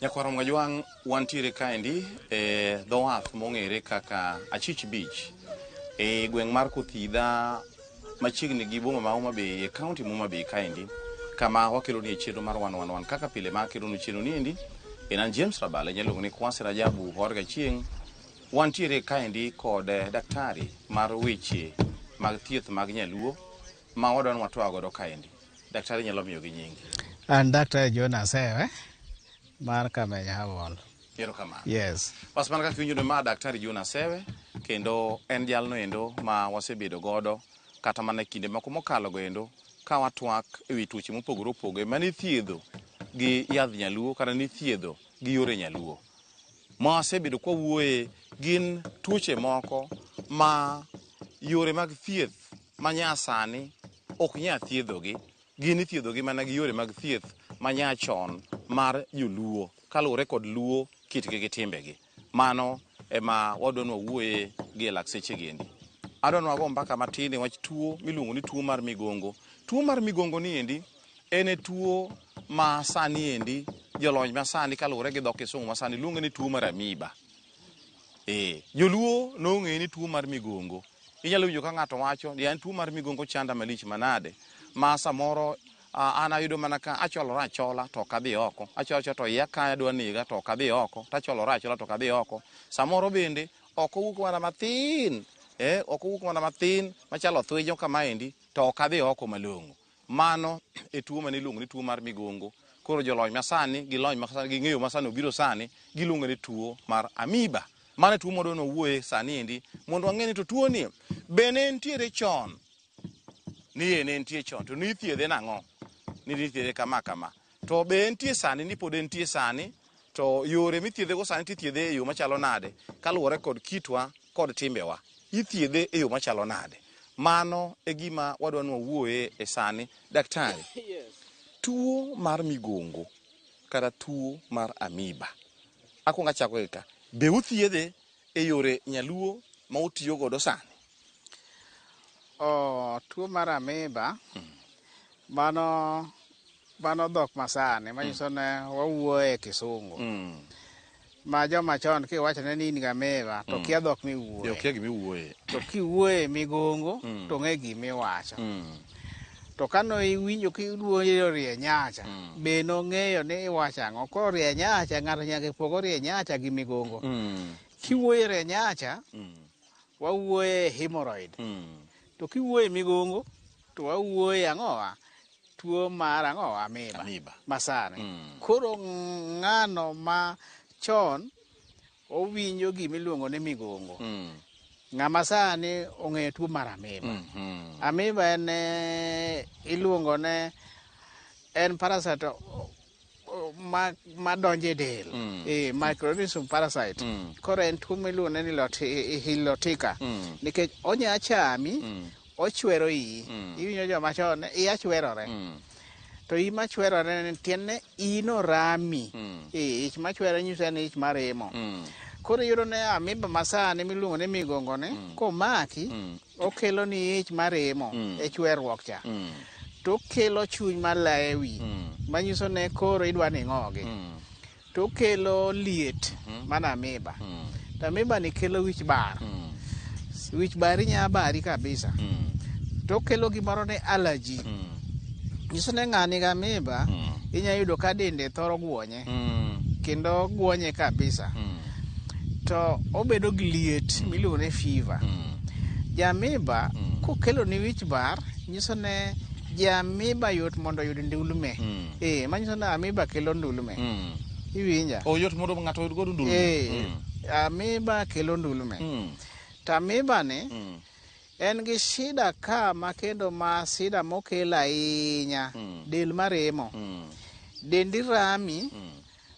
Nyakwaro Mwajwang' wantiere kaendi e dho wath mong'ere kaka Achich Beach e gweng' mar Kuthidha machiegni gi boma ma Homa Bay e kaunti ma Homa Bay kaendi kama wakeloni e chenro mar wan wan wan kaka pile ma akelonu chenro ni endi en an James Rabala inyalo luongo ni Kwasi Rajabu Horga Chieng' wantiere kaendi kod eh, daktari mar weche mag thieth mag nyaluo ma wadwa ni watwa godo kaendi. Daktari nyalo miyo gi nyingi. An Daktari John Asewe mar Kameny Herbal. Erokamano. Yes. Bas mana kaka iwinjo ni ma Daktari John Asewe kendo en jalno endo ma wasebedo godo kata mana e kinde moko mokalo go endo ka watwak e wi tuoche mopogore opogore mane ithiedho gi yadh nyaluo kata nithiedho gi yore nyaluo. ma wasebedo kwa wuoye gin tuoche moko ma yore mag thieth ma nyasani ok nya thiedhogi gin ithiedhogi mana gi yore mag thieth ma nyachon mar joluo kaluwore kod luo kitgi gi timbegi mano ema wadwa ni wawuoye gi e lakseche giendi adwa ni wago mbaka matin e wach tuo miluongo ni tuo mar migongo tuo mar migongo ni endi En e tuo ma sani endi jolony ma sani kaluwore gi dhok kisungu ma sani luonge ni tuo mar amiba. Ee, joluo nong'eye ni tuo mar migongo. Inyalo winjo ka ng'ato wacho ni an tuo mar migongo chanda malich manade ma samoro ah, an ayudo mana ka acholora achola to ok adhi oko, acholo achola to iya kaya dwa nega to ok adhi oko, to acholora achola to ok adhi oko. Samoro bende ok owuok mana mathin, eh, ok owuok mana mathin machalo thwinyo kamaendi to ok adhi oko malong'o. Mano e tuo mane iluongo ni tuo mar migongo. Koro jolony masani gi lony masani gi ng'eyo masani obiro sani giluongo ni tuo mar amiba. Mano e tuo modo nowuoye sani endi mondo wang'e ni to tuo ni be ne nitiere chon? Ni e ne nitie chon to nithiedhe nang'o? Ni nithiedhe kama kama. To be entie sani ni pod entie sani? To yore mithiedhego sani tithiedhe e yo machalo nade kaluwore kod kitwa kod timbewa? Ithiedhe e yo machalo nade? Mano e gima wadwa ni wawuoye e sani. Daktari, tuo mar migongo kata tuo mar amiba, akwongo achako gi ka, be uthiedhe e yore nyaluo ma utiyo godo sani? Oh, tuo mar amiba hmm. mano mano dhok masani manyiso hmm. ne wawuoye e kisungu hmm. ma joma chon kiwachone ni in gameva to hmm. kia dhok miwuoye to kiwuoye migongo to ng'e gimiwacho to kane iwinjo ka iluonjo rie nyacha mm. be nong'eyo ni iwacho ang'o koro rie nyacha ng'ato nyaka ipogo e rie nyacha gi migongo mm. kiwuoyo e rie nyacha mm. wawuoyo e hemorrhoid mm. to kiwuoyo e migongo to wawuoyo e ang'owa tuo mar ang'owa amiba, amiba. masani mm. koro ng'ano ma chon Owinjo gima iluongo ni migongo. Mm. Ng'ama sani ong'eyo tuo mar amiba. Mm -hmm. Amiba en eh, iluongo ne en parasite ma ma donje del mm. e microorganism parasite mm. koro en tuo miluongo ni hilotika mm. nikech onya chami mm. ochwero iyi mm. iwinjo joma chon iya chwerore mm. to iyi machwerore ne tiende iyi norami mm. ich machwere nyise ni ich maremo mm. koro iyudo ne amiba masani miluongo ni migongo ni mm. komaki mm. okelo ni ich maremo mm. e chwerruok cha mm. to okelo chuny malaye wi mm. manyiso ne koro idwa ni ng'ogi mm. to okelo liet mana amiba to amiba ni kelo wich bar wich bari nya bari kabisa to okelo gimoro ni allergy nyiso ni ng'ani gi amiba inya yudo ka dende thoro gwonye kendo gwonye kabisa to obedo gi liet miluongo ni fever jamiba kokelo ni wich bar nyiso ne jamiba yot mondo oyud ndulme eh manyiso ni amiba kelo ndulme Mm. iwinja Oh, yot mondo ng'ato oyud godo ndulu. eh Mm. amiba kelo ndulme Mm. to amiba ni Mm. en gi shida ka ma kendo ma shida mokelo ahinya Mm. del maremo Mm. dendi rami Mm.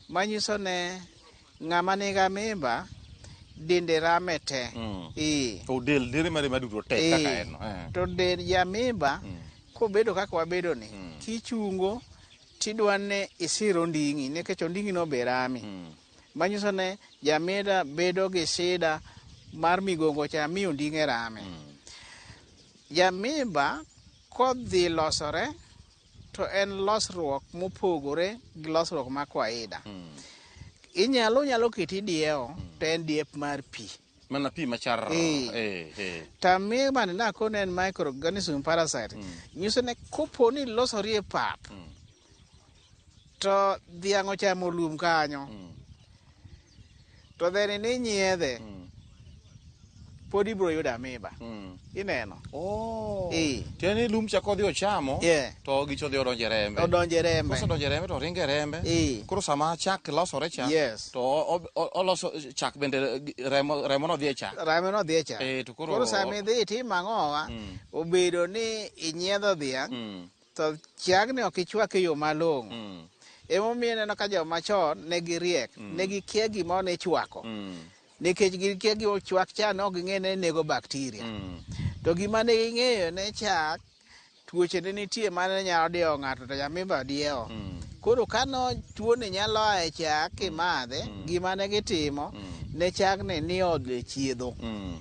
manyiso ne Ng'ama niga mimba dende rame te. Mm. Ee. To del dere mare maduto te ee. kaka en. Eh. To del ya mimba mm. kobedo kaka wabedo ni mm. kichungo tidwa ne isir onding'i nikech onding'i no be rami. Mm. Manyiso ne jamida bedo gi shida mar migongo cha mi onding'e rame. Mm. Jamimba kodhi losore to en losruok mopogore gi losruok ma kwaida hmm. inyalo nyalo keti diewo hmm. to en diep mar pi mana pi machar eh. eh, eh. tami mane nakone en microorganism parasite hmm. nyiso ne kopo ni losori e pap to dhiang' ochamo lum kanyo to then ni nyiedhe mm. pod ibro yudo amiba mm. ineno oh. e. tiende ni lum chako dhi ochamo yeah. to gicho dhi odonje rembe odonje rembe kosedonje rembe to ringe rembe e. koro sama chak losore cha yes. to oloso chak bende remo, remo no dhi e chak remo no dhi e chak e, to koro, koro sama idhi itimo ang'owa mm. obedo ni inyiedho dhiang' mm. To chiagni ok ichwak e yo malong'o. Mm. Emomiyo ineno ka joma chon ne giriek, mm. ne gikia gima ne ichwako. Mm. Nikech gikia gima ochwak cha ne ok ging'e ne nego bakteria. Mm. To gima ne ging'eyo ne chak tuoche ne nitie mane nyalo diewo ng'ato to nyamimba diewo. Mm. Koro ka no tuoni nyalo a e chak kimadhe, mm. mm. gima ne gitimo mm. ne chagni ni odhi chiedho. Mm.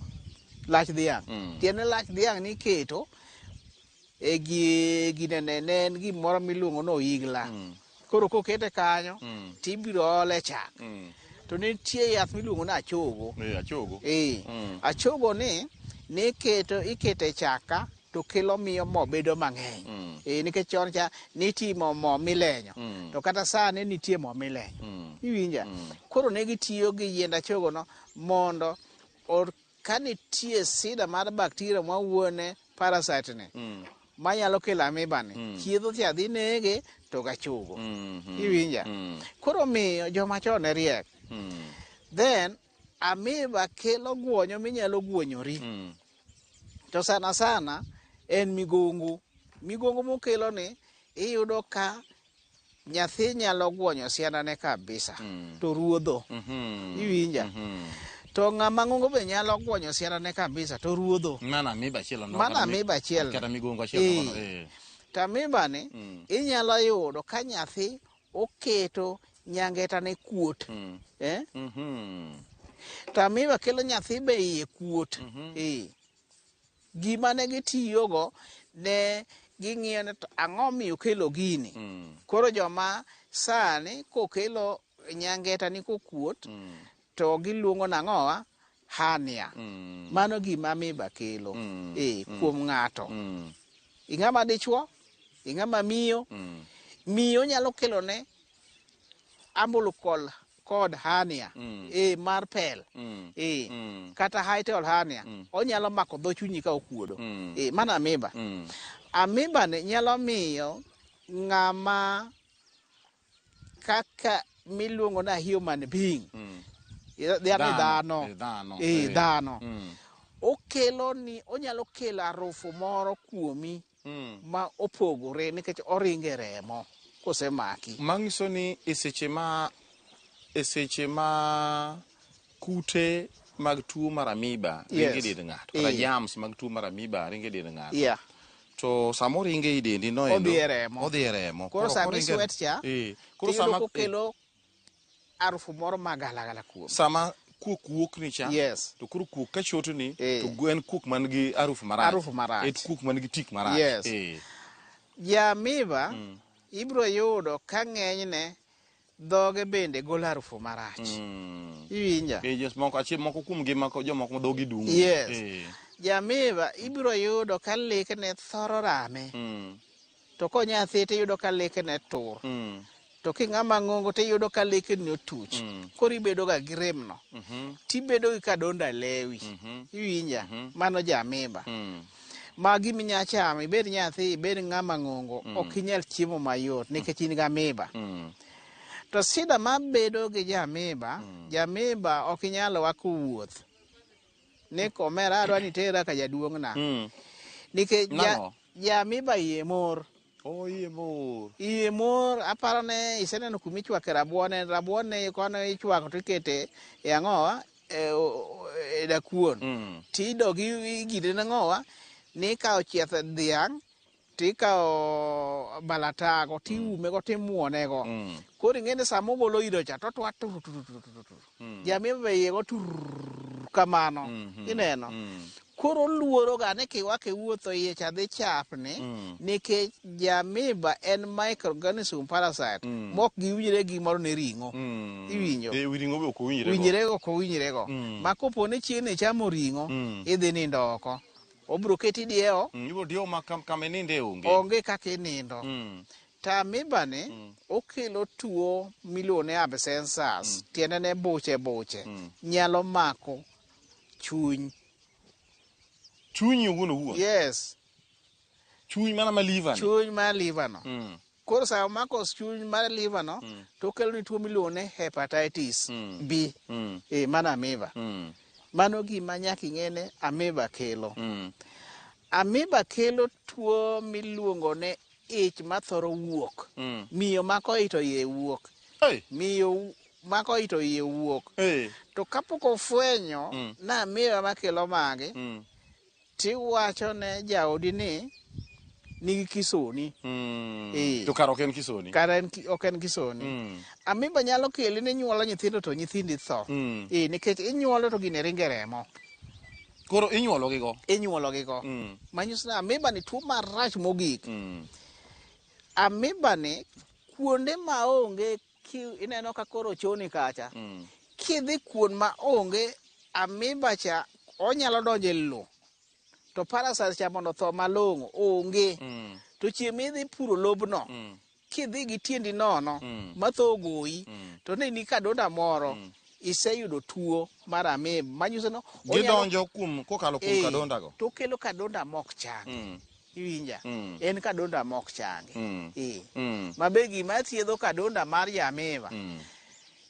Lach dhiang'. Mm. Tiende lach dhiang' niketo e gi- ginene ne en gimoro miluongo ni oyigla Mm. koro kokete kanyo Mm. to ibiro ole chak Mm. to nitie yath miluongo ni achogo Eh, achogo. ee Mm. achogo ni niketo ikete chaka to kelo miyo mo bedo mang'eny Mm. ee nikech chon cha nitimo mo milenyo Mm. to kata sani nitie mo milenyo Mm. iwinja Mm. koro ne gitiyo gi yiend achogono mondo o- ka nitie sida mar bakteria ma wuone parasite ni mm. manyalo kelo amiba ni mm. chiedho thi adhi nege to gachugo mm -hmm. iwinja mm. koro miyo joma chon ne riek mm. then amiba kelo guonyo minyalo guonyori mm. to sana sana en migongo migongo mokelo ni iyudo ka nyathi nyalo guonyo siandane kabisa mm. to ruodho mm -hmm. iwinja mm -hmm. to ng'ama ng'ongo be nyalo guonyo siandane kabisa to ruodho mana amiba achiel mana amiba achiel kata migongo achiel eh. eh. to amiba ni mm. inyalo yudo ka nyathi oketo nyangetane kuot mm. eh? mm -hmm. to amiba kelo nyathi be iye kuot mm -hmm. eh. gima ne gitiyogo ne ging'iyo ni to ang'o miyo kelo gini koro joma sani kokelo nyangeta ni kokuot to giluongo nang'owa hania mano gima miba kelo e kuom ng'ato ing'ama dichwo ing'ama miyo miyo nyalo kelone ambulukol kod hernia mm. e mar pel mm. e mm. kata hiatal hernia mm. onyalo mako dho chunyi ka okuodo mm. e mana amiba mm. amiba ni nyalo miyo ng'ama kaka miluongo na human being mm. yani dhano e dhano okelo ni onyalo kelo arufu moro kuomi mm. ma opogore nikech oringe remo kosemaki. Manyiso ni eseche ma eseche ma kute mag tuo mar amiba yes. ringe dend ng'ato kata yeah. jams mag tuo mar amiba ringe dend ng'ato yeah. to sama oringe i dendi noendo odhi e remo koro sama iswet cha e. koro sama kokelo arufu moro ma galagala kuome. Sama kuok wuok ni cha yes. to koro kuok ka choto ni eh. to en kuok man gi arufu marach arufu marach et kuok man gi tik marach yes. eh. jamiba mm. ibro yudo ka ng'enyne dhoge bende golo arufu marach mm. iwinja eh, yes, moko achiel moko kuom gi mako jomoko ma dhogi dum yes. eh. jamiba ibro yudo ka lekne thoro rame mm. to konyathi tiyudo ka leke ne tur mm. to king'ama ng'ongo tiyudo ka leke ne otuch mm. koro ibedo ga gi rem no mm -hmm. tibedo gi kadonda lewi mm -hmm. iwinja mm -hmm. mano jamiba mm. ma gimi nya chamo ibed nyathi ibed ng'ama ng'ongo mm. ok inyal chiemo mayot nikech in ga miba mm. To sida mabedo gi jamiba, mm. jamiba ok inyalo wako wuoth. ni komera adwa ni tera ka jaduong'na Mm. nikech ja, Nang'o? ja miba iye mor Oh, iye mor. iye mor aparo ne iseneno kuma ichwake rabuon en rabuon ne kono ichwako to ikete e ang'owa e, o- o- e dakuon Mm. tidogi igire nang'owa ni ka ochieth dhiang' tikawo balatago tiumego mm. timwonego mm. koro ing'e ni sama ogolo ido cha totwa mm. jamia be iye go tur kamano mm-hmm. ineno koro oluoroga ni kiwake wuotho iye cha dhi chapni mm. nikech jamiba en microorganism parasite mm. mok giwinjre gimoro ne ring'o mm. iwinjo e, winjrego ok owinjrego mm. ma kopo ni chieng' ni chamo ring'o mm. idhi nindo oko Obiro keti diewo. Mm, ibiro diewo ma kam, kama ininde onge. Onge kaka inindo. Mm. To amiba ni mm. okelo tuo miluongo ni abscessors, mm. tiende ne buche buche, mm. nyalo mako chuny. Chuny owuon owuon. Yes. Chuny mana ma liver. Chuny ma liver no. Mm. Koro sa omako chuny mar liver no mm. to okelo ni tuo miluongo ni hepatitis mm. B mm. e eh, mana amiba. Mm. Mano gima nyaka ing'e ni amiba kelo. Mm. Amiba kelo tuo miluongo ni ich mathoro wuok. Mm. Miyo mako ito iye wuok. Hey. Miyo mako ito iye wuok. Hey. To kapok ofwenyo mm. na amiba makelo mage mm. Tiwacho ne jaodi ni nigi kisoni. Mm. Eh. To kara ok en kisoni. Kara en ki- ok en kisoni. Mm. Amiba nyalo keli ni nyuolo nyithindo to nyithindi tho. Mm. Eh, nikech inyuolo to gine ringe remo. Koro inyuolo gigo. Inyuolo gigo. Mm. Manyiso ni amiba ni tuo marach mogik. Mm. Amiba ni kuonde ma onge Ineno ka koro choni kacha. Mm. Kidhi kuon ma onge amiba cha onyalo donjo e lo. To parasite cha mondo tho malong'o onge. Mm. To chieng' midhi puro lobno. Mm. Kidhi gi tiendi nono mm. ma tho ogoyi. Mm. To ne ni kadonda moro. Mm. iseyudo tuo mar amib manyiso no gidonjo kuom kokalo kuom eh, kadonda go to kelo kadonda mok chang mm. Iwinja? Mm. En kadonda mok changi. Mm. Eh. Mm. Ma be gima thiedho kadonda mar jamiva Mm.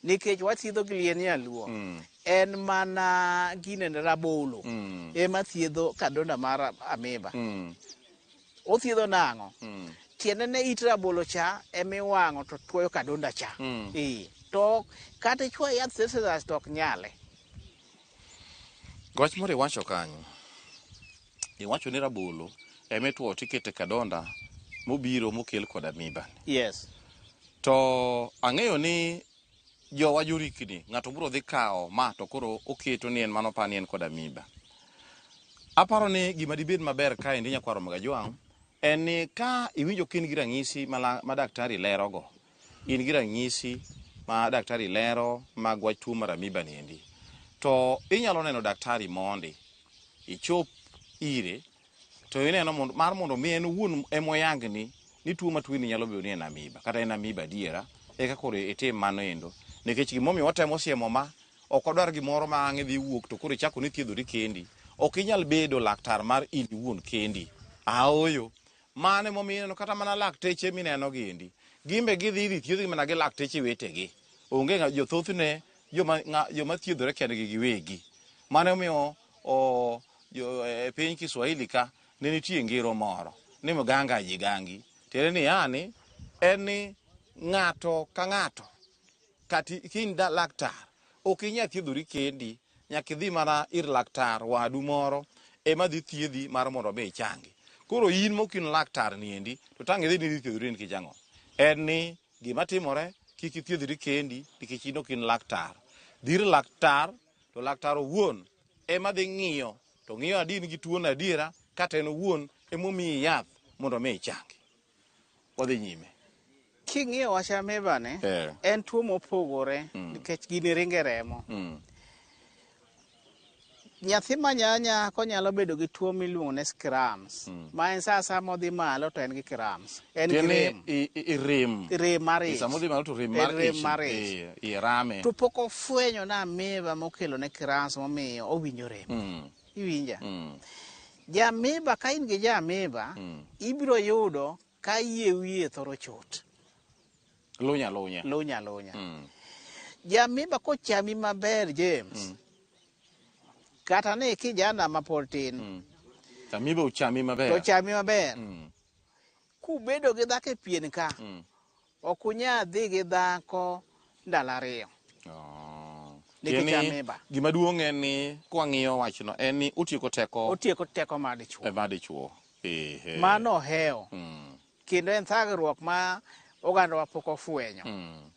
nikech wathiedho gi liend nyaluo Mm. en mana gine ne rabolo Mm. ema thiedho kadonda mar amiba. Mm. Othiedho nang'o? Mm. Tiende ne it rabolo cha ema iwang'o to tuoyo kadonda cha. Mm. Eh. To kata ichwa yath seseras to ok nyale. Wach moro iwacho kanyo. Iwacho ni rabolo ema itwo to ikete kadonda mobiro mokel kod amiba. Yes. To ang'eyo ni jowa jorikni, ng'ato biro dhi kawo ma to koro oketo ni en mano pa ni en kod amiba. Aparo ni gima dibed maber kaendi nyakwar Omega Jwang' en ni ka iwinjo ka in gi ranyisi ma la- ma daktari lerogo, In gi ranyisi ma daktari lero mag wach tuo mar amiba niendi, to inyalo neno daktari mondi ichop ire to ineno mondo, mar mondo mi en owuon emoyangni ni tuo ma tuoni nyalo bedo ni en amiba kata en amiba adiera, eka koro itim mano endo. Nikech gimomiyo watemo siemo ma ok wadwar gimoro ma ang' idhi wuok to koro ichako ni thiedhori kendi. Ok inyal bedo laktar mar in iwuon kendi. Aoyo. Mano emomiyo ineno kata mana lakteche mineno gi endi, gin be gidhi idhi thiedhgi mana gi lakteche wetegi. Onge ng'a jo thothne joma ng'a joma thiedhore kendgi giwegi. Mano emomiyo o jo e piny Kiswahili ka ne nitie ngero moro ni mganga ajigangi. Tiende ni yani en ni ng'ato ka ng'ato Kata in da laktar, ok inya thiedhori kendi, nyaka idhi mana ir laktar wadu moro ema dhi thiedhi mar mondo mi ichangi. Koro in mok in laktar ni endi to tang' idhi ni idhi thiedhori nikech ang'o? En ni gima timore kik ithiedhri kendi nikech in ok in laktar. Dhi ir laktar to laktar owuon ema dhi ng'iyo to ng'iyo adi in gi tuono adiera kata en owuon emomiyi yath mondo mi ichangi. wadhi nyime king'iyo wach ameba ni yeah. en tuo mopogore mm. nikech gini ringe remo mm. nyathi manyanya konyalo bedo gi tuo miluongo ni scrams mm. ma en saa saa modhi malo to en gi crams en gi rem rem rem mar ich modhi malo to rem mar rem mar ich i rame to pok ofwenyo na ameba mokelo ne crams momiyo owinjo rem mm. Iwinja? Mm. Jaamiba ka in gi jaamiba mm. ibiro yudo ka yie wiye thoro chot. Lunya lunya. Lunya lunya. Mm. Jaamiba kochami maber James. Mm. Kata ni kijana ma pod tin. Mm. Jaamiba ochami maber. Ochami maber. Mm. Kubedo gi dhako e pien ka. Mm. Ok unyal dhi gi dhako ndalo ariyo. Oh. Nikech Tiende ni ameba. Gima duong' en ni kwang'iyo wachno en ni otieko teko Otieko teko mar dichwo. e ma dichwo. Ehe. Mano ohewo. Mm, Kendo en thagruok ma ogandawa pok ofwenyo. mm,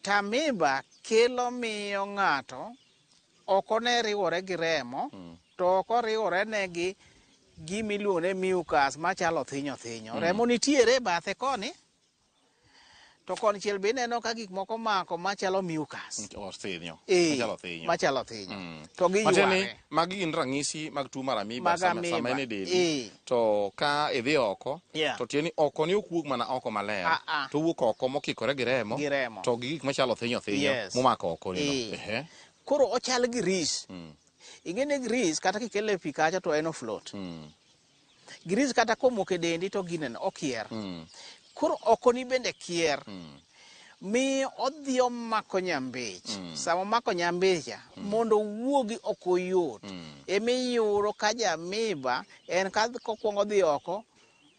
Tamiba kelo miyo ng'ato Oko ne riwore gi remo, mm. to oko riwore ne gi gima iluongo ni mucus machalo thinyo thinyo. Mm. Remo nitiere bathe koni, to koni chiel be ineno ka gik moko mako machalo mucus. Othinyo. Mm, eh, machalo thinyo. Machalo thinyo. Mm. To gi yware. Magi gin ranyisi mag tuo mar amiba sama, sama en e dendi. Eh. to ka idhi oko yeah. to tieni oko ni ok wuog mana oko maler uh -uh. to wuok oko mokikore gi remo, gi remo. to gi gik machalo thinyo thinyo yes. momako oko ni e. Eh. koro ochal gi ris mm. ing'eni gris kata kikele pi kacha to en oflot mm. gris kata komoko e dendi to gineno okier mm. koro okoni bende kier mm. mi odhi omako nyambich mm. sama omako nyambicha mm. mondo owuogi ok oyot mm. emiyudo ka jamiba en ka kokwongo dhi oko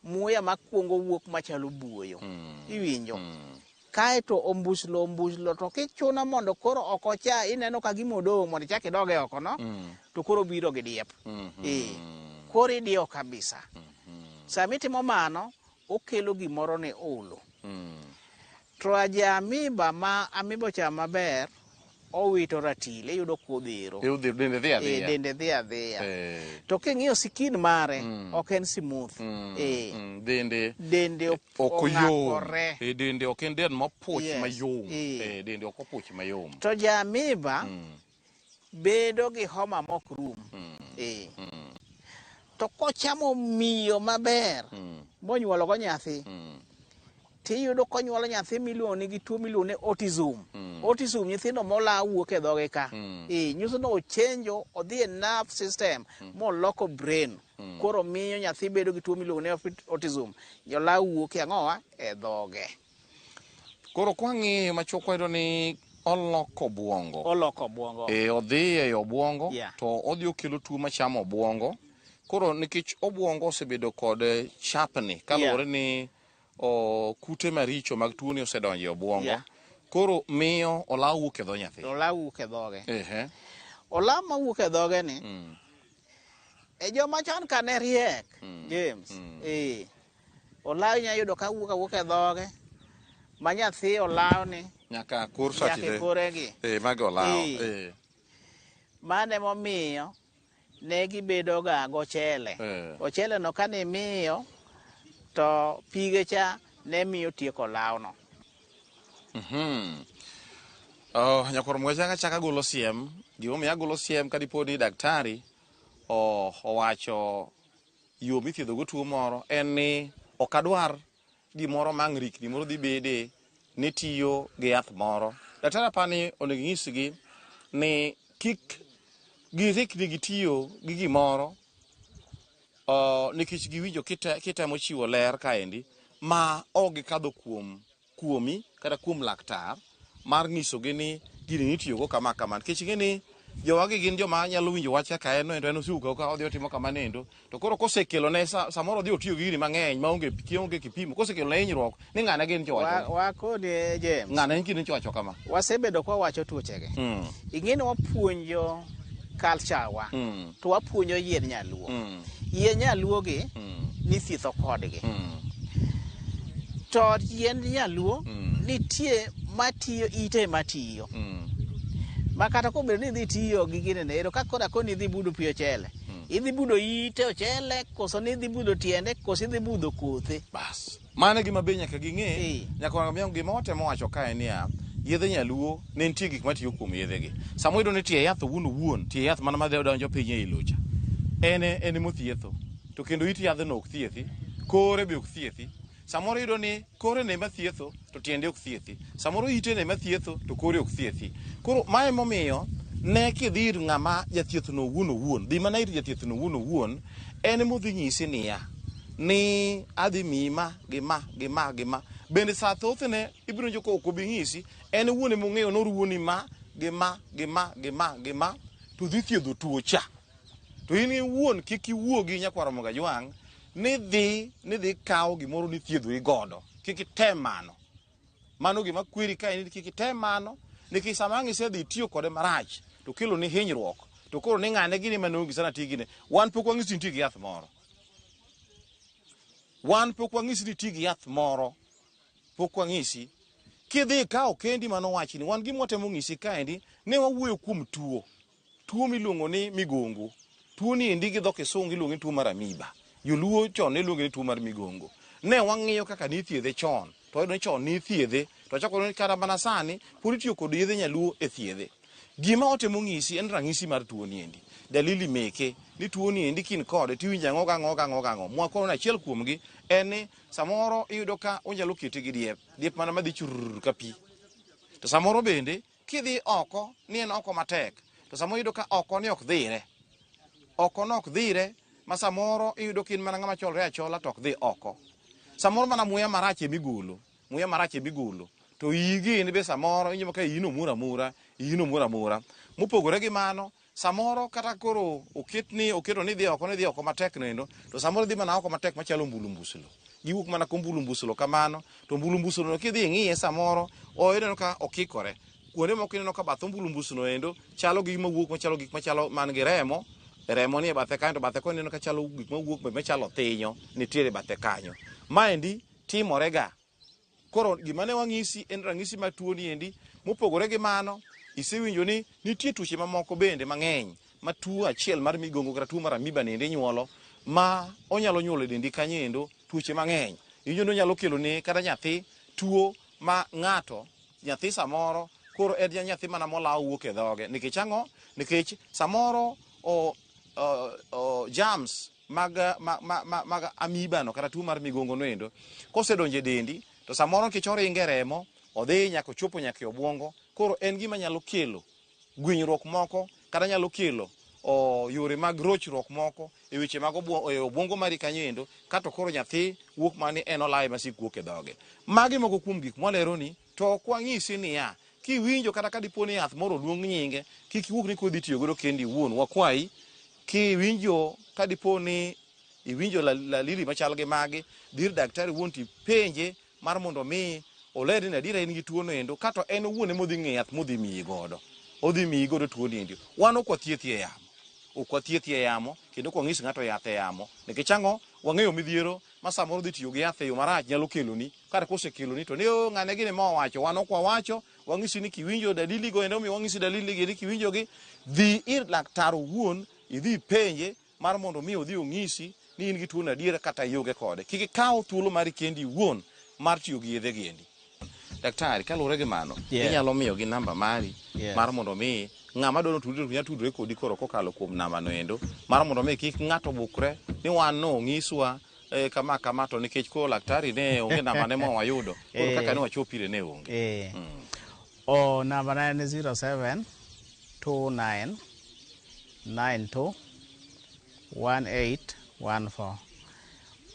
muya makwongo wuok machalo buoyo mm. iwinjo mm. kaeto ombuslo ombuslo to kichuno mondo koro ok ocha ineno ka gima odong' mondo ichak idoge oko no mm. to koro biro gi diep mm -hmm. e koro idiyo kabisa mm -hmm. sama itimo mano okelo gimoro ni ulu mm. to aja amiba ma amiba ochamo maber owito ratil iyudo kuodhero e, e, dende dhi adhiya eh. to king'iyo sikin mare mm. ok en smooth mm. e. mm. dende dende ok oyom e, dende ok en den mopuch mayom dende ok opuch mayom to ja amiba bedo gi homa mok rum eh. to kochamo miyo maber monyuologo nyathi tiyudo konyuolo nyathi miluongo ni gi tuo miluongo ni autism autism nyithindo mola wuok e dhoge ka eh, nyiso ni ochenjo odhi e nerve system moloko brain koro miyo nyathi bedo gi tuo miluongo ni autism jola wuok e ang'owa e dhoge Koro kwang'iyo machuok wayudo ni oloko obwongo. Oloko obwongo. E, odhi e obwongo yeah. to odhi okelo tuo machamo obwongo. Koro nikech obwongo osebedo kod eh, chapni kaluwore yeah. ni o, kute maricho mag tuoni osedonjo e obwongo. Yeah. Koro miyo olaw wuok e dho nyathi. Olaw wuok e dhoge. Ehe. Olaw ma wuok e dhoge ni. Mm. E joma chon kane riek. Mm. James. Mm. E. Olaw inya yudo ka wuok awuok e dhoge ma nyathi olaw ni nyaka kur sati nyaka koregi. Eh mago olaw. Eh. eh. Mane momiyo ne gibedo ga gochele. Eh. Ochele no kane miyo to pige cha ne miyo tieko olaw no. Mhm. Mm oh, nyakwar mweche anga chaka golo siem. Gimomiyo agolo siem kadipodi daktari oh, owacho yo mithiedhogo tuo moro en ni ok adwar gimoro ma ang' rikni moro dhi bede ni tiyo gi yath moro. Daktari aparo ni onego inyisgi ni kik girikni gi tiyo gi gimoro nikech giwinjo kitemo chiwo ler kaendi ma ok gikadho kuom kuomi kata kuom laktar mar nyisogi ni gini nitiyogo kama kama nikech ing'e ni jowagi gin joma nyalo winjo wach kaka en endo en osiwuka ka odhi otimo kama nendo to koro kosekelone sa- samoro odhi otiyo gi gini mang'eny maonge kionge kipimo kosekelone hinyruok ni ng'ane gin jowacho wakone james ng'ane en kidin jowacho kama wasebedo kwawacho tuochege Mm. ing'e ni wapuonjo culture wa Mm. to wapuonjo yiend nyaluo mm. yiend nyaluo gi mm. nithietho kodgi mm. to yiend nyaluo mm. nitie matiyo ite matiyo mm. ma kata kobedo ni idhi tiyo gi gine ne ero ka koda koni idhi budo pi ochele mm. idhi budo ite ochele koso ni idhi budo tiende koso idhi budho kothe bas Mano e gima be nyaka ging'e. Eh. Nyaka wang'e gima watemo wacho kae niya, yedhe nyaluo ne nitie gik matiyo kuom yedhegi. Sama wayudo ni tie yath owuon owuon, tie yath mana madhi donjo piny ei locha, en e- en emothietho. To kendo it yadhno ok thiethi, kore be ok thiethi. Samoro iyudo ni kore ne ema thietho to tiende ok thiethi. Samoro ite ne ema thietho to kore ok thiethi. Koro ma emomiyo ne kidhi ir ng'ama jathiethno owuon owuon, dhi mana ir jathiethno owuon owuon, en emodhi nyisi niya, ni adhi miyi ma gi ma gi ma gi ma bende sa thothne ibiro winjo ka ok obi ng'isi en wuon ema ong'eyo noruwoni ma gi ma gi ma gi ma gi ma to dhi thiedho tuo cha to in iwuon kik iwuo gi nyakwar Ramogi Ajwang' ni dhi ni dhi kawo gimoro ni thiedhori godo kik item mano mano gima kweri ka en ni kik item mano nikech sama ang' isedhi itiyo kode marach to kelo ni hinyruok to koro ni ng'ane gini mane ong'isi sana ti gine wan pok wang'isi nitie gi yath moro wan pok wang'isi ni ti gi yath moro pok wang'isi kidhi ikawo kendi mano wachni wan gima watemo ng'isi kaendi ne wawuoyo kuom tuo tuo miluongo ni migongo tuo ni endi gi dho kisungu iluongo ni tuo mar amiba joluo chon ne iluonge ni tuo mar migongo ne wang'iyo kaka nithiedhe chon to wayudo ni chon nithiedhe to chako ni kata mana sani pod itiyo kod yedhe nyaluo e thiedhe Gima otemo ng'isi en rang'isi mar tuo niendi. Dalili meke ni tuo niendi kin kode tiwinja ng'o ga ng'o ga ng'o ga ng'o. Mwakono na achiel kuom gi en ni samoro iyudo ka onyalo kete gi diep. Diep mana madhi churr ka pi. To samoro bende kidhi oko ni en oko matek. To samoro iyudo ka oko ni ok dhire. Oko no ok dhire ma samoro iyudo ka in mana ng'ama cholre achola to ok dhi oko. Samoro mana muya marach emigolo. Muya marach e bigulu. To iyigi in be samoro inyomo ka iyino mura mura, iyino mura mura. Mopogore gi mano, samoro kata koro oket ni oketo ni dhi oko ni dhi oko matek noendo, to samoro dhi mana oko matek machalo mbulu mbuslo. Giwuok mana ko mbulu mbuslo kamano, to mbulu mbuslo no kidhi ing'iye samoro o ineno ka okikore. Kuonde moko ineno ka bath mbulu mbuslo noendo chalo gi mawuok machalo gik machalo man gi remo, remo ni e bathe kanyo to bathe koni ineno ka chalo gik mawuok machalo thinyo nitiere bathe kanyo. Maendi timorega. Koro gima ne wang'isi en ranyisi mar tuo niendi. Mopogore gi mano, isewinjo ni nitie tuoche mamoko bende mang'eny ma tuo achiel mar migongo kata tuo mar amiba niendi nyuolo ma onyalo nyuolo e dendi kanyo endo tuoche mang'eny. Iwinjo ni onyalo kelo ne kata nyathi tuo ma ng'ato nyathi samoro koro en ja nyathi mana molawo wuok e dhoge nikech ang'o? Nikech samoro o, o, o, germs mag, mag, mag, mag amiba no kata tuo mar migongo no endo kosedonjo e dendi to samoro nikech oringe remo odhi nyaka ochopo nyaka e obwongo koro en gima nyalo kelo gwinyruok moko kata nyalo kelo o, yore mag rochruok moko e weche mag obwo- e obwongo mari kanyo endo kato koro nyathi wuok mani en olawe masik wuok e dhoge magi moko kuom gik mwaleroni To ok wanyisi niya, Kiwinjo kata ka dipo ni yath moro oluong nyinge, kik iwuog ni koro idhi tiyo godo kendi iwuon. Wakwayi, kiwinjo ka dipo ni iwinjo lalili machal gi magi, dhi ir daktari wuon to ipenje mar mondo omi olerni ni adiera in gi tuono endo, ka to en owuon ema odhi ng'eyo yath modhi miyi godo. Odhi miyi godo tuoni endi. Wan ok wathiethi e yamo. Ok wathiethi e yamo kendo ok wanyis ng'ato yath e yamo. Nikech ang'o? Wang'eyo midhiero ma samoro dhi tiyo gi yath e yo marach nyalo keloni kata kosekeloni to ni o ng'ane gini ma owacho wan ok wawacho wang'isi ni kiwinjo dalili go ende omiyo wang'isi dalili gi ni kiwinjo gi dhi ir laktar owuon idhi penje mar mondo mi odhi ong'isi ni in gi tuono adier kata ionge kode kik ikaw thuolo mari kendi iwuon mar tiyo gi yedhe gi endi daktari kaluwore gi mano yeah. inyalo miyogi namba mari yeah. mar mondo mi ng'ama dwaro tudore to nyalo tudore kodi koro kokalo kuom namba no endo mar mondo mi kik ng'ato bukre ni wan no ng'iswa eh, kama kama to nikech koro laktari ne onge namba ne mwa wayudo koro eh. kaka ne wachopire ne onge eh. mm. o oh, namba na en 07 29 92 1814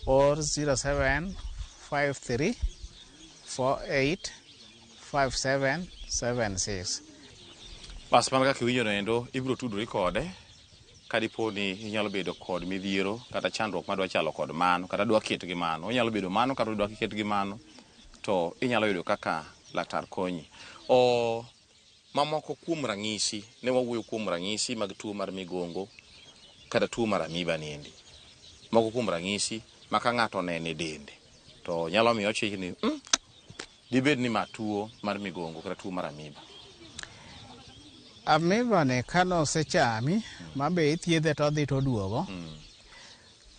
or 0753485776. Bas mana kaka iwinjono endo, ibiro tudori kode ka dipo ni inyalo bedo kod midhiero kata chandruok ma dwa chalo kod mano kata dwa ket gi mano. Onyalo bedo mano kata dwa ket gi mano to inyalo yudo kaka laktar konyi. O Mamoko kuom ranyisi, ne wawuoyo kuom ranyisi mag tuo mar migongo kata tuo mar amiba niendi. Moko kuom ranyisi ma ka ng'ato onene dende to nyalo miyo ochich ni mm, dibed ni ma tuo mar migongo kata tuo mar amiba. Amiba ni ka nosechami ma be ithiedhe to odhi to oduogo. Mm.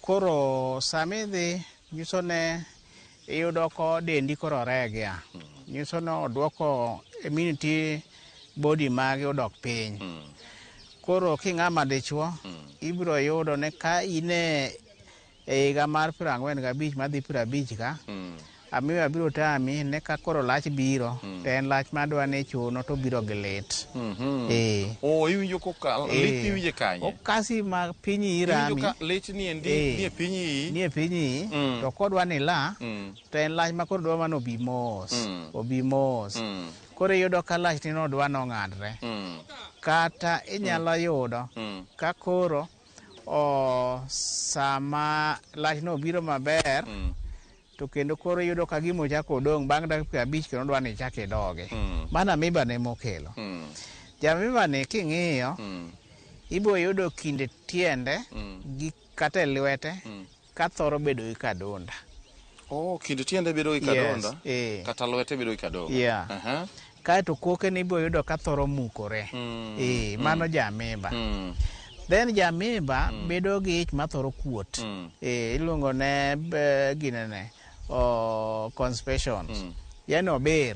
Koro sama idhi nyiso ne iyudo ko dendi koro oregia nyiso ni odwoko immunity body magi odok piny hmm. koro king'ama dichuo hmm. ibiro yudo ni ka in e higa mar piero ang'wen gabich madhi piero abich ka hmm. Amiyo abiro tami ne ka koro lach biro mm. to en lach ma adwa ni chuno to biro gi lit. Mm -hmm. eh. Oh, iwinjo ko ka eh. lit iwinje kanye? O kasi ma piny irami. Iwinjo ka lit ni endi eh. ni e piny yi. Ni e piny yi. Mm. To kodwa ni la mm. to en lach ma koro dwa mano obi mos. Mm. Obi mos. Mm. Koro iyudo ka lach ni nodwa nong'adre. Mm. Kata inyalo mm. yudo mm. ka koro o sama lach no biro maber. Mm. to kendo koro iyudo ka gima ochako odong' bang' dakika piero abich kendo dwa ni ichak idogi hmm. mano amiba ne mokelo hmm. jamiba ni king'iyo hmm. ibo yudo kinde tiende gi kata e lwete ka thoro bedo gi kadonda oh, kinde tiende bedo gi kadonda yes, eh. kata lwete bedo gi kadonda yeah. uh -huh. kaeto kokene ibiro yudo ka thoro mukore mm. e, mano mm. jamimba mm. then jamimba mm. bedo gi ich mathoro kuot mm. e, iluongo ne e, ginene oh, conspitions mm. yani obir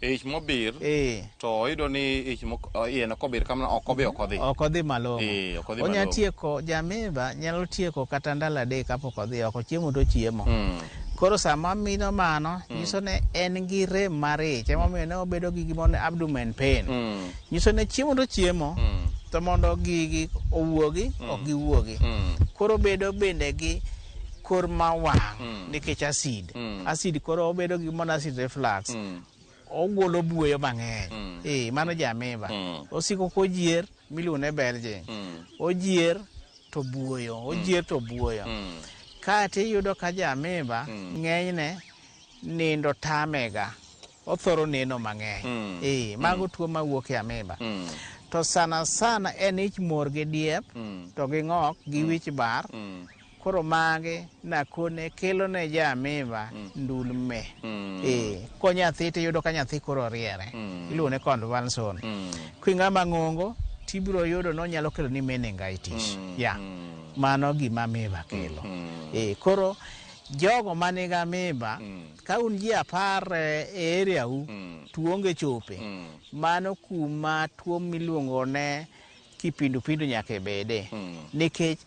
ich mobir e. to oyudo ni ich iye no kobir kamano ok obi ok odhi ok odhi malong'o e, onya tieko jamimba nyalo tieko kata ndalo adek kapok odhi oko chiemo to chiemo mm. Koro sama mino mano mm. nyiso ne en gi rem mar ich emomiyo ne obedo gi gimoro abdomen pain mm. nyiso ne chiemo to chiemo mm. to mondo gigi owuogi mm. ok giwuogi mm. koro bedo bende gi kor ma wang' mm. nikech acid mm. acid koro obedo gi gimoro acid reflux mm. ogolo buoyo mang'eny mm. e, mano jamiba mm. osiko kojier miluongo ne belging mm. ojier to buoyo mm. ojier to buoyo mm. kati iyudo ka jamiba mm. ng'enyne nindo tamega othoro neno mang'eny mm. e, mago mm. tuo mawuok e amiba mm. to sana sana en ich mor gi diep mm. to gi ng'ok gi mm. wich bar mm. Koro magi nakone kelo ne ja amiba mm. ndul me. Mm. Eh, ko nyathi to yudo ka nyathi koro riere. Mm. Iluwo ne convulsion. Mm. Kwinga mangongo tibiro yudo no nyalo kelo ni meningitis. Mm. Ya. Mm. Mano gima amiba kelo. Mm. Eh, koro jogo ma nigi amiba mm. ka un ji apar eh, e area u mm. tuonge chope mm. mano kuma tuo miluongo ne Kipindupindu nyaka ibede nikech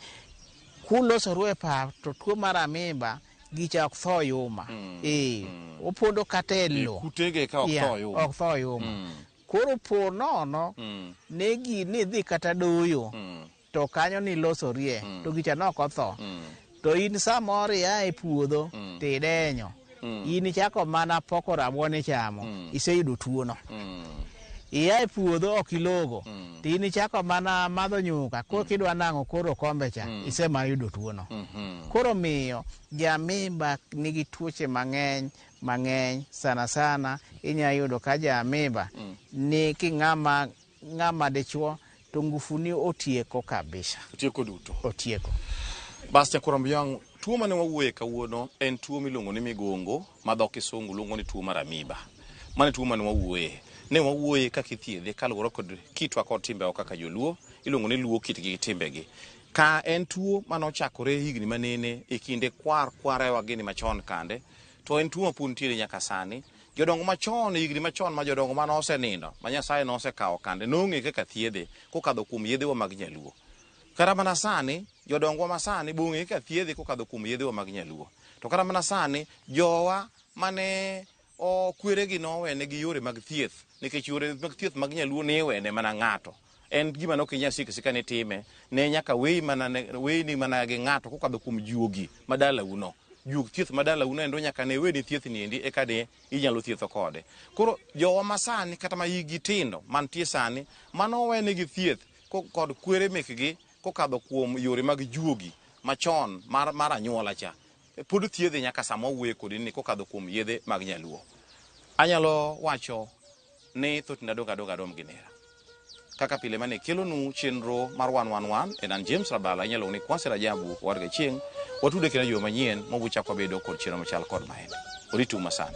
kulosoru e pap to tuo mar amimba gicha ok tho yuma. Ee, opondo kata e lo. Kutege ka ok Yeah, tho yuma. ok tho yuma. Mm. Koro po nono Mm. ne gini idhi kata doyo Mm. to kanyo nilosorie to gicha ne ok otho. Mm. To in samoro ia e puodho mm. to idenyo, mm. in ichako mana poko rabuon ichamo, mm. iseyudo tuono. Mm. Ia e puodho ok ilogo, mm. to in ichako mana madho nyuka, koro mm. kidwa nang'o koro kombe cha, mm. ise ma yudo tuono. Mm -hmm. Koro miyo, jamimba nigi tuoche mang'eny mang'eny sana sana, inya yudo ka jamimba mm. ni king'ama Ng'a ma dichwo to ngufuni otieko kabisa. Otieko duto. Otieko. Bastia Kurambuyang, tuo mane wawuoye kawuono en tuo miluongo ni migongo ma dho kisungu luongo ni tuo mar amiba. Mane tuo mane wawuoye. Ne wawuoye kaka ithiedhe kaluwore kod kitwa kod timbewa kaka joluo. Iluongo ni luo kitgi gi timbegi. Ka en tuo mane ochakore higni manene e kinde kwar kwarewa gini machon kande. To en tuo mapod nitiere nyaka sani. Jodongo machon, e higni machon ma jodongo mane osenindo, ma Nyasaye nosekawo kande, nong'e kaka thiedhe kokadho kuom yedhewa mag nyaluo. Kata mana sani, jodongwa ma sani be ong'e kaka thiedhe kokadho kuom yedhewa mag nyaluo. To kata mana sani, jowa mane o kweregi nowenegi yore mag thieth, nikech yore mag thieth mag nyaluo niwene mana ng'ato. en gima ne ok inyal siko sika ni time ne nyaka weyi mana ne- weyini mana gi ng'ato kokadho kuom juogi ma dalauno juog thieth ma dalauno endo nyaka ne weni thiethni endi eka de inyalo thietho kode koro jowa masani kata ma yigi tindo mantie sani mano owenegi thieth ko- kod kwere mekgi kokadho kuom yore mag juogi machon mar, mar anyuola cha pod thiedhe nyaka sama owuoye kodi ni kokadho kuom yedhe mag nyaluo anyalo wacho ni thot na doga doga rom gi nera kaka pile mane kelonu chenro mar wan wan wan en an James Rabala inyalo ni Kwasi Rajabu warga chieng watude kina yo manyien mobu chako bedo kod chenro machal kod maen oritu masani